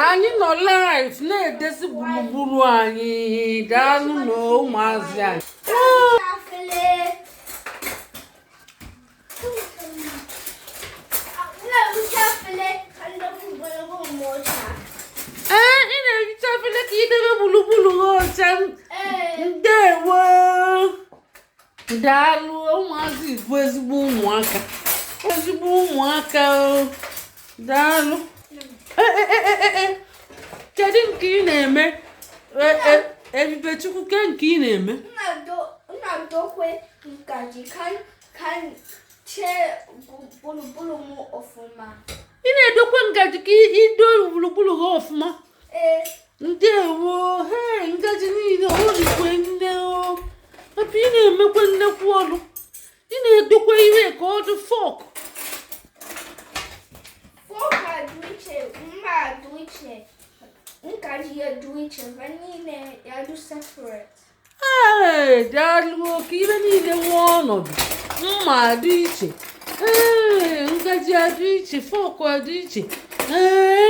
anyị nọ live na-edezi gburugburu anyị daalụ nụ ụmụazị anyị ee ị na-ehicha efere ka idebe gburugburu ha ọcha ndewo daalụ ụmụazị bụ ezigbo ụmụaka ezigbo ụmụaka daalụ e, e, e, kedu nke ị na-eme Ebubechukwu ke nke ị na-eme ị na-edokwe ngaji ka ido gburugburu gị ọfụma ndewo he ngaji niile ọ dịkwe nne o ebe ị na-emekwa nnekwu ọlụ ị na-edokwa ihe ka ọ dị fọk ee daalụ ka ihe niile nwee ọnọdụ mma dị iche ee ngaji adị iche fọk adị iche ee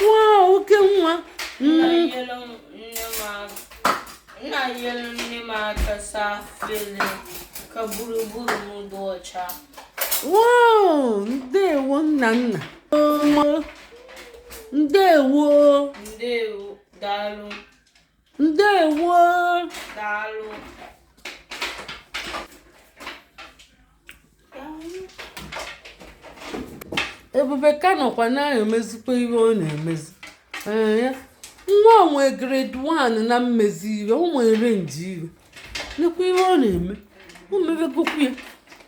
Wow, oke nwa. Nna yelu nne m aka saa afele ka gburugburu m dị ọcha. Wow, ndewo nna nna. Ndewo. Ndewo, daalụ. ndewo daalụ ebube ka nọkwa na-emezikwa ihe ọ na-emezi nwa onwe grade 1 na-emezi ihe o wee arrange ihe nekwa ihe ọ na-eme o mebegokwu ya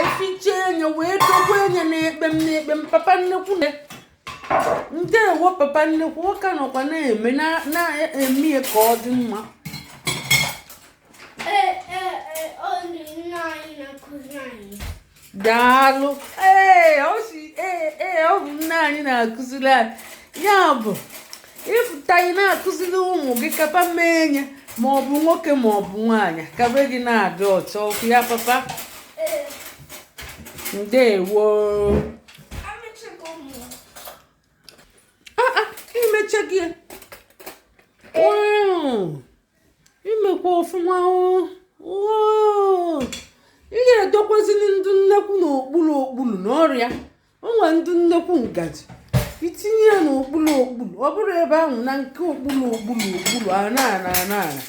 efiche enye wee dokwe enye n'ekpe m n'ekpe m papa nnekwu na ndewo papa nnekwu nwoke nọkwa na-eme na-eme ya ka ọ dị mma daalụ ee ọ bụ nne anyị na-akụziri anyị ya bụ ịfụta ị na-akụziri ụmụ gị kapa mee enye ma ọ bụ nwoke ma ọ bụ nwaanyị ka be gị na-adị ọcha ọ kwa ya papa ndewo ah, ah, imecha gị imekwa ọfụma ị ya-edokwazili ndị nnekwu n'okpuru okpuru n'ọrịa o nwere ndị nnekwu ngaji itinye ya n'okpuru okpuru ọ bụrụ ebe ahụ na nke okpuru okpuru okpuru ana ana ana ana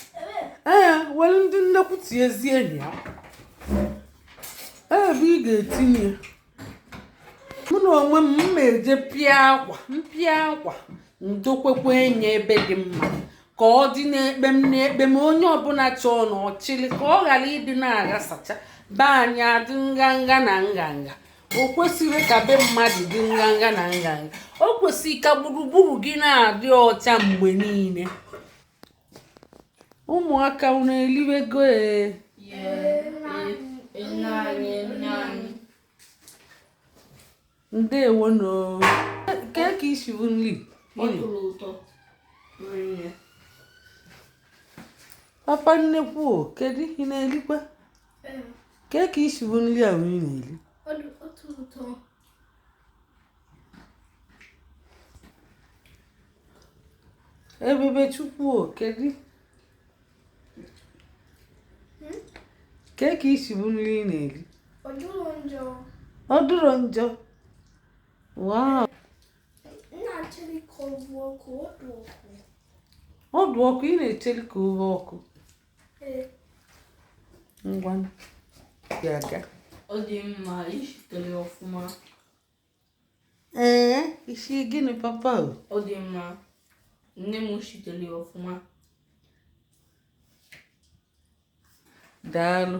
ee were ndị nnekwu tinyezie ya ebe ị ga-etinye mụ na onwe m m eje pịa akwa m pịa akwa m dokwekwa enye ebe dị mma ka ọ dị n'ekpe m n'ekpe m onye ọbụla chọọ na ọ chịlị ka ọ ghara ịdị na-aghasacha be anyị adị nganga na nganga o kwesịrị ka be mmadụ dị nganga na nganga o kwesịrị ka gburugburu gị na-adị ọcha mgbe niile ụmụaka unu eliwego ee ndewo nụ kee ka i si hụ nri papa nnekwu kedu ị na-elikwa kee ka i si hụ nri a ị na-eri ebubechukwu kedu kee ka i si hụ nri ị na-eri ọ dụrụ njọ wow ọ dụ ọkụ ị na-echeri ka owe ọkụ ngwa na-aga ọ dị mma i shitere ọfụma ee i si gịnị papa o ọ dị mma nne m i shitere ọfụma daalụ